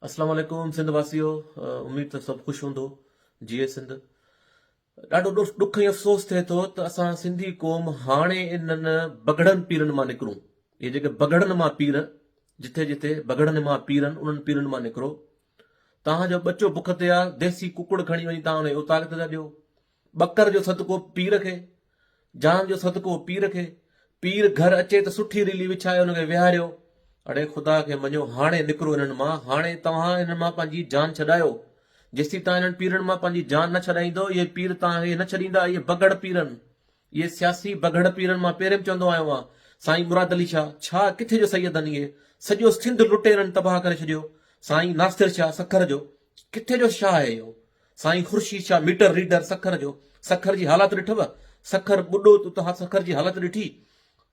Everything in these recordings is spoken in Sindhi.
اسلام عليڪم سنڌ واسيو اميد ته سڀ خوش هوندو جيئي سنڌ ڏاڍو ڏک ۽ افسوس ٿئي ٿو ته اسان سنڌي قوم هاڻي انهن بگهڙن پيرن مان نڪرون اهي جيڪي بگهڙن مان پير جٿي جٿي بگهڙن مان پيرن انهن پيرن مان نڪرو توهان جو ٻچو بک تي آ ديسي ڪڪڙ کڻي وڃي توهان انهي اوطاق تي ٿا ڏيو ٻڪر جو صدقو پير کي، جان جو صدقو پير کي، پير گهر اچي ته سٺي ريلي وڇائي ان کي ويهاريو، اڙي خدا کي مڃو هاڻي نڪرو انهن مان، هاڻي توهان انهن مان پنهنجي جان ڇڏايو، جيسين تان انهن پيرن مان پنهنجي جان نه ڇڏائيندو اهي پير توهان کي نه ڇڏيندا اهي بگهڙ پيرن اهي سياسي بگهڙ پيرن مان پهرين به چوندو آيو آهيان سائين مراد علي شاهه ڇا ڪٿي جو سيدن اهي سڄو سنڌ لٽيرن تباهه ڪري ڇڏيو سائين ناصر شاهه سکر جو ڪٿي جو شاهه آهي اهو سائين خورشيد شاهه ميٽر ريڊر سکر جو سکر جي حالات ڏٺو سکر ٻڏو تو توهان سکر جي حالت ڏٺي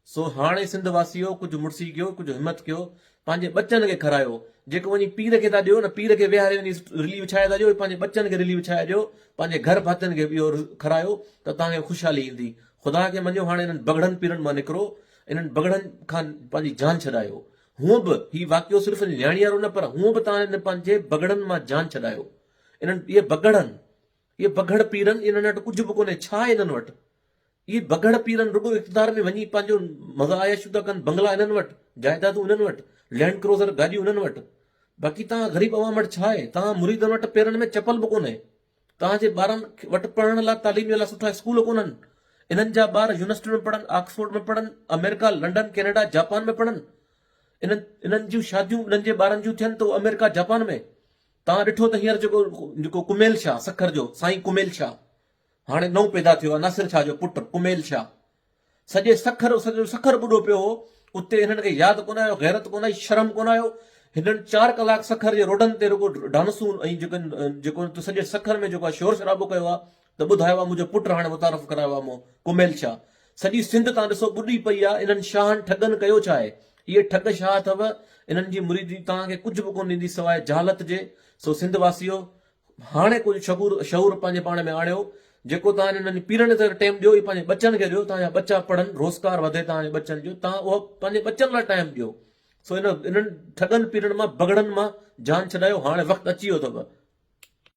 سو هاڻي سنڌ واسيو ڪجهه مڙسي ڪيو ڪجهه همت ڪيو پنهنجي ٻچن کي کرايو جيڪو وڃي پير کي ٿا ڏيو نه پير کي ويهاري وڃي رلي وڇائي ٿا ڏيو پنهنجي ٻچن کي رلي وڇائي ڏيو پنهنجي گهر ڀاتين کي اهو کرايو ته توهان کي خوشحالي ايندي خدا کي مڃيو هاڻي انهن بگڙن پيرن مان نڪرو انهن بگڙن کان پنهنجي جان ڇڏايو هونء به هي واقعو صرف اڄ نياڻيارو نه پر هونء به توهان هن پنهنجي بگهڙن مان جان ڇڏايو. انهن اهي بگهڙن اهي بگهڙ پيرن انهن وٽ ڪجهه به ڪونهي ڇا آهي انهن وٽ اهي بگهڙ پيرن رڳو اقتدار ۾ وڃي پنهنجو مزا عياشيون ٿا ڪن بنگلا انهن وٽ جائدادون انهن وٽ لينڊ ڪروزر گاڏيون انهن وٽ باقي توهان غريب عوام وٽ ڇا آهي توهان مريدن وٽ پيرن ۾ چپل به ڪونهي توهان جي ٻارن وٽ پڙهڻ لاء تعليم جي لاء سٺا اسڪول ڪونهن. انهن جا ٻار يونيورسٽين ۾ پڙهن، آڪسفورڊ ۾ پڙهن، آمريڪا، لنڊن، ڪينيڊا، جاپان ۾ پڙهن. انهن انهن جون شاديون انهن جي ٻارن جون ٿين ته اهو آمريڪا، جاپان ۾. توهان ڏٺو ته هينئر جيڪو جيڪو ڪميل شاهه سکر جو سائين ڪميل شاهه هاڻي نئون پيدا ٿيو آهي ناصر شاهه جو پٽ ڪميل شاهه. سڄي سکر سڄو جو سکر ٻڏو پيو هو، اتي هنن کي ياد ڪونه آيو، غيرت ڪونه آئي، شرم ڪونه آيو، هنن چار ڪلاڪ سکر جي روڊن تي رڳو ڊانسون ۽ جيڪن جيڪو هن سڄي سکر ۾ جيڪو شور شرابو ڪيو آ ته ٻڌايو آ منهنجو پٽ هاڻي متعارف ڪرايو آ مون ڪميل شاهه، سڄي سنڌ تان ڏسو ٻڏي پئي آ، انهن شاهن ٺڳن ڪيو ڇا آهي، اهي ٺڳ شاهه اٿو، انهن جي مريدي توهان کي ڪجهه به ڪونه ڏيندي سواء جهالت جي، سو سنڌ واسيو هاڻي ڪجهه شعور شعور پنهنجي پاڻ ۾ آڻيو جيڪو توهان انهن جي پيرن کي ٽيم ڏيو اهي پنهنجي ٻچن کي ڏيو توهان جا ٻچا پڙهن روزگار وڌي توهان جي ٻچن جو توهان اهو پنهنجي ٻچن لاء ٽائيم ڏيو سو انهن انهن ٺڳن پيرن مان بگهڙن مان جان ڇڏايو هاڻي وقت اچي ويو اٿو